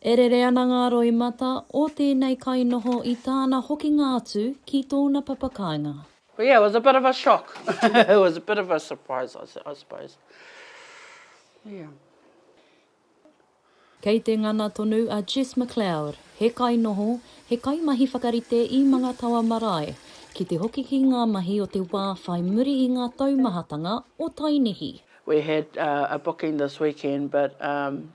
E rere ana ngā roimata o tēnei kainoho i tāna hokinga atu ki tōna papakāinga. Well yeah it was a bit of a shock it was a bit of a surprise I suppose yeah. Kei te ngana tonu a Jess McLeod, he kainoho, he kaimahi whakarite i Mangatawa Marae, ki te hoki ki ngā mahi o te wā whai muri i ngā taumahatanga o Tainihi. We had a booking this weekend but um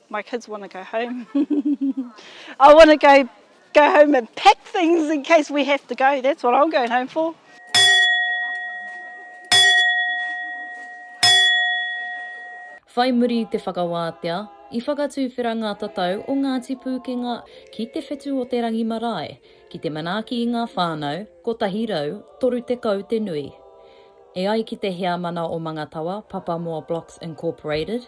My kids want to go home I want to go home and pack things in case we have to go that's what I'm going home for. Whai muri i te whakawātea, i whakatuwhera ngā tatau o Ngāti Pūkenga ki te whetu o te rangi marae, ki te manaaki i ngā whānau, 130 te nui. E ai ki te Heamana o Mangatawa, Papamoa Blocks Incorporated,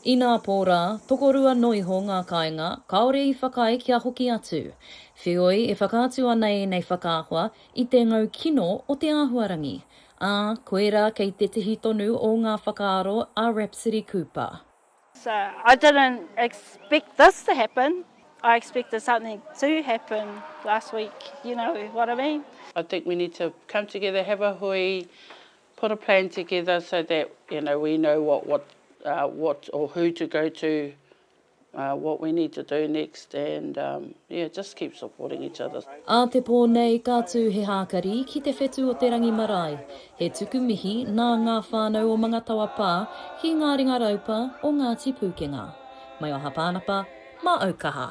Inā pō rā, tokorua noiho ngā kāinga kāore i whakaae kia hoki atu. Wheoi e whakaatu ana ēnei whakaahua i te ngau kino o te āhuarangi, ā, koirā kei tētehi tonu o ngā whakaaro a Rhapsody Cooper. So I didn't expect this to happen, I expected something to happen last week, you know what I mean. I think we need to come together, have a hui, put a plan together so that you know we know what what uh, what or who to go to, uh, what we need to do next, and um, yeah, just keep supporting each other. Ā te pō nei ka tū he hākari ki te whetu o te rangi marae. He tuku mihi nā ngā whānau o Mangatawa pā ki ngā ringa raupa o Ngāti Pūkenga. Mai o Hapānapa, mā Aukaha.